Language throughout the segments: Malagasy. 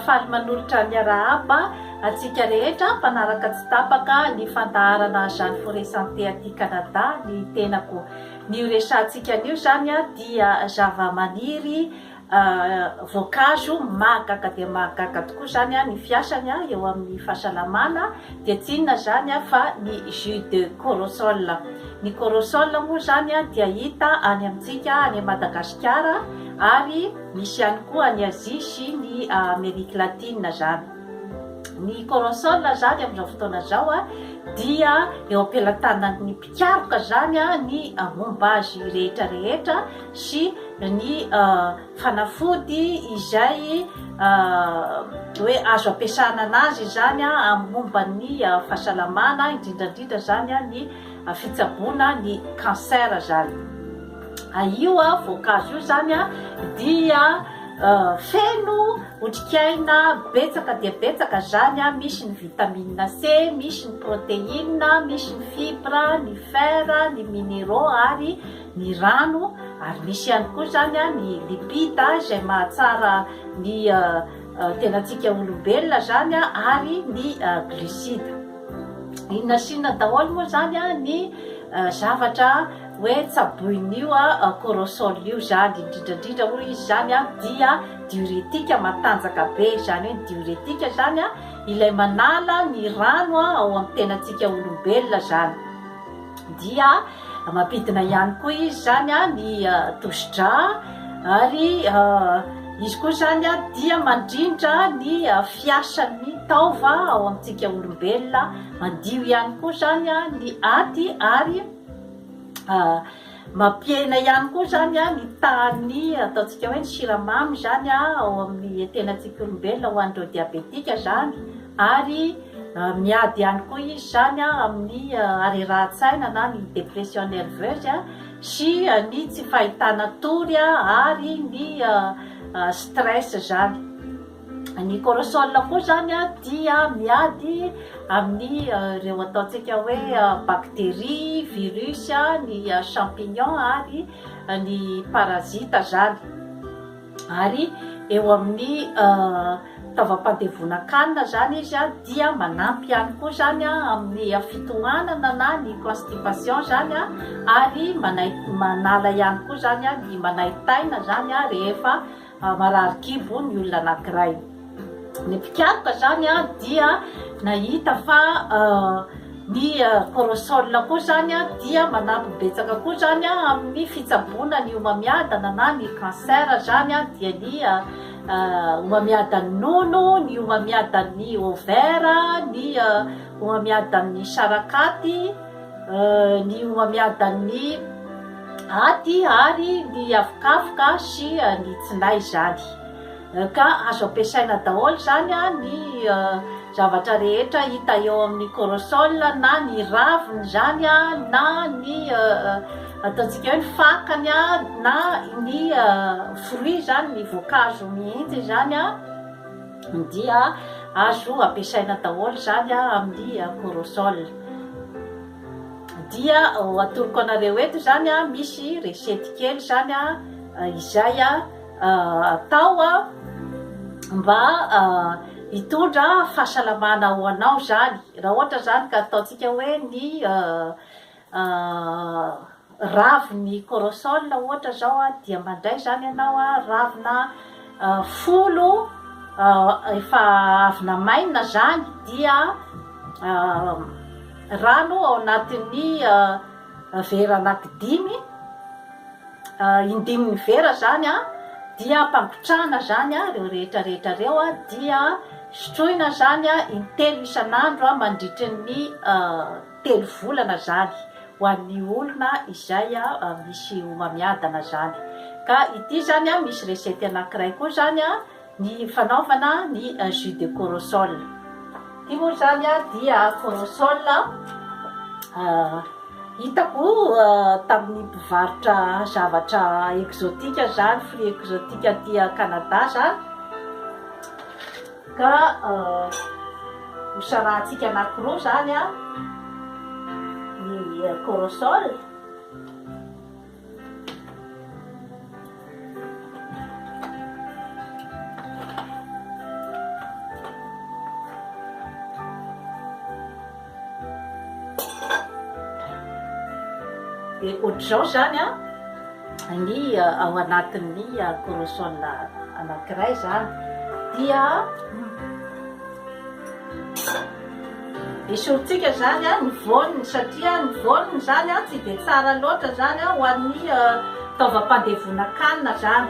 faly manolotra miarahaba antsika rehetra mpanaraka tsy tapaka ny fandaharana jeanne fore santé aty canada ny tenako ny resantsika anio zany dia zava-maniry voankazo mahagaga dia mahagaga tokoa izany ny fiasany eo amin'ny fahasalamana dia tsy inona izany fa ny jus de corosol, ny corosol moa izany dia hita any amintsika any Madagasikara ary misy ihany koa any Azia sy ny Amerique Latine izany, ny corosol izany amin'izao fotoana izao dia eo am-pelatanan'ny. Tsaroka izany ny momba azy rehetra rehetra sy ny fanafody izay hoe azo ampiasana anazy izany amin'ny momba ny fahasalamana indrindra indrindra izany ny fitsaboana ny cancer izany. Io voankazo io izany dia feno Otrikaina betsaka dia betsaka zany a, misy ny vitamine C, misy ny proteine, misy ny fibre, ny fer, ny mineraux ary ny rano ary misy ihany koa zany a ny lipide izay mahatsara ny tenantsika olombelona zany a ary ny glucide. Inona sy inona daholo moa zany a ny zavatra hoe tsaboin'io corossol io zany, indrindra indrindra hoy izy zany a dia Diuretique matanjaka be, izany hoe ny diuretique izany an, ilay manala ny rano ao amin'ny tenantsika olombelona izany, dia mampidina ihany koa izy izany an ny tosi-drà ary izy koa izany an dia mandrindra ny fiasan'ny taova ao amintsika olombelona, mandio ihany koa izany an ny aty ary Mampiaina ihany koa izany ny tahan'ny ataontsika hoe ny siramamy izany ao amin'ny tenantsika olombelona ho an'ireo diabetika izany ary miady ihany koa izy izany amin'ny harerahan-tsaina na ny dépression nerveuse sy ny tsy fahitana tory ary ny stress izany. Ny corossol koa izany dia miady amin'ny ireo ataontsika hoe bactéries, virus, ny champignon ary ny parasite izany. Ary eo amin'ny taovam-pandevonan-kanina izany izy dia manampy ihany koa izany amin'ny fitohanana na ny constipation izany ary manala ihany koa izany ny manaintaina izany rehefa Marary kibo ny olona anankiray. Ny mpikaroka izany dia nahita fa ny corosol koa izany dia manampy betsaka koa izany amin'ny fitsaboana ny homamiadana na ny cancer izany dia ny homamiadan'ny nono, ny homamiadan'ny ovaire, ny homamiadan'ny sarakaty. ny homamiadan'ny aty ary ny avokavoka sy ny tsinay izany ka azo ampiasaina daholo izany ny zavatra rehetra hita eo amin'ny corossol na ny raviny izany na ny ataontsika hoe ny fakany na ny fruit izany ny voankazo mihitsy izany Ny dia azo ampiasaina daholo izany amin'ny corossol. Dia atoroko anareo eto izany misy recette kely izany izay atao mba hitondra fahasalamana ho anao izany. Raha ohatra izany ka ataontsika hoe ny raviny corosol ohatra zao dia mandray zany ianao a ravina folo efa avy namainina zany dia rano ao anatin'ny vera anaky dimy indimy ny vera zany a dia ampangotrahana zany a reo rehetra rehetra reo a dia sotroina zany a intelo isan'andro a mandritry ny telo volana zany ho an'ny olona izay misy homamiadana zany ka ity zany misy recette anakiray koa zany ny fanaovana ny jus de corosol ity moa zany dia corosol hitako tamin'ny mpivarotra zavatra exotique zany fruit exotique aty Canada zany Ka hosarahantsika anankiroa izany ny corossol. Dia ohatr'izao izany an, ny ao anatin'ny chromosome anankiray izany dia esorintsika izany an ny voany satria ny voany izany an tsy dia tsara loatra izany an ho an'ny taovam-pandevonan-kanina izany.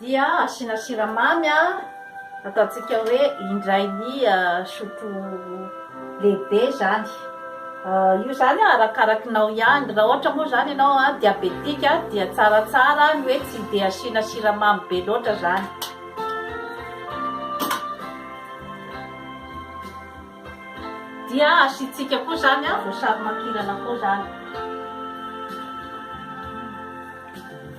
Dia asiana siramamy, ataontsika hoe indray ny sotro lehibe izany. Io izany arakarakinao ihany. Raha ohatra moa izany ianao diabetika dia tsaratsara ny hoe tsy dia asiana siramamy be loatra izany. Dia asiantsika koa izany voasary makirana koa izany.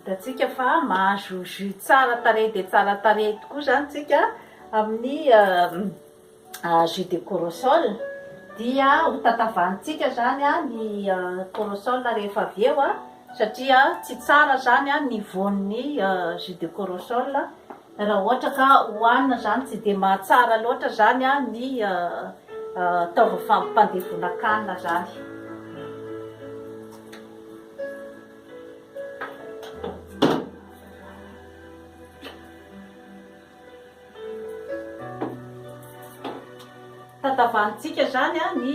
Hitantsika fa mahazo jus tsara tarehy dia tsara tarehy tokoa izany tsika amin'ny jus de corossol. Dia ho tatavantsika izany ny corossol rehefa avy eo satria tsy tsara izany ny voan'ny jus de corossol. Raha ohatra ka hohanina zany tsy dia mahatsara loatra zany ny taova fampandevonan-kanina zany. Tantavanintsika zany ny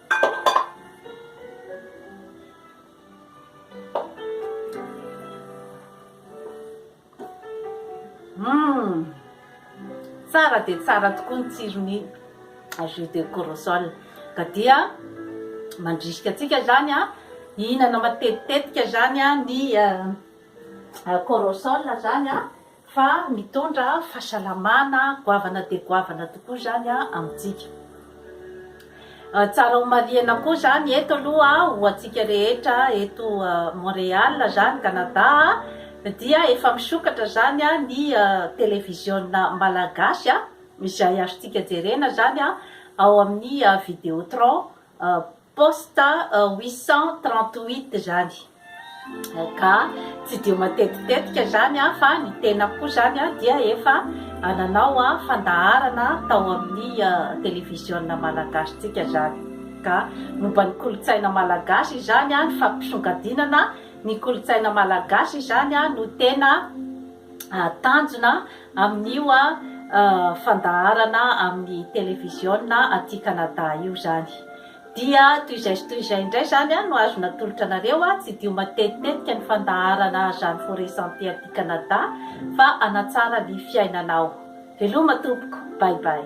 Hum! Tsara dia tsara tokoa ny tsiron'ny jus de corossol. Ka dia mandrisika antsika izany hihinana matetitetika izany ny corossol izany. Fa mitondra fahasalamana, goavana dia goavana tokoa izany amintsika. Tsara homarihina koa izany eto aloha ho antsika rehetra eto Montréal izany, Canada, dia efa misokatra izany ny televiziona malagasy izay azontsika jerena izany ao amin'ny Videotron. Post huit cent trente huit zany ka tsy dia matetitetika zany aho fa ny tenako koa zany aho dia efa nanao aho fandaharana tao amin'ny televiziona malagasy tsika zany ka momba ny kolontsaina malagasy izany aho ny fampisongadinana ny kolontsaina malagasy izany aho no tena tanjona amin'io fandaharana amin'ny televiziona aty Canada io izany. Dia toy izay sy toy izay indray izany no azo natolotra anareo, tsy dio matetitetika ny fandaharana Jeanne Forest Santé aty Canada fa hanatsara ny fiainanao. Veloma tompoko, bye bye.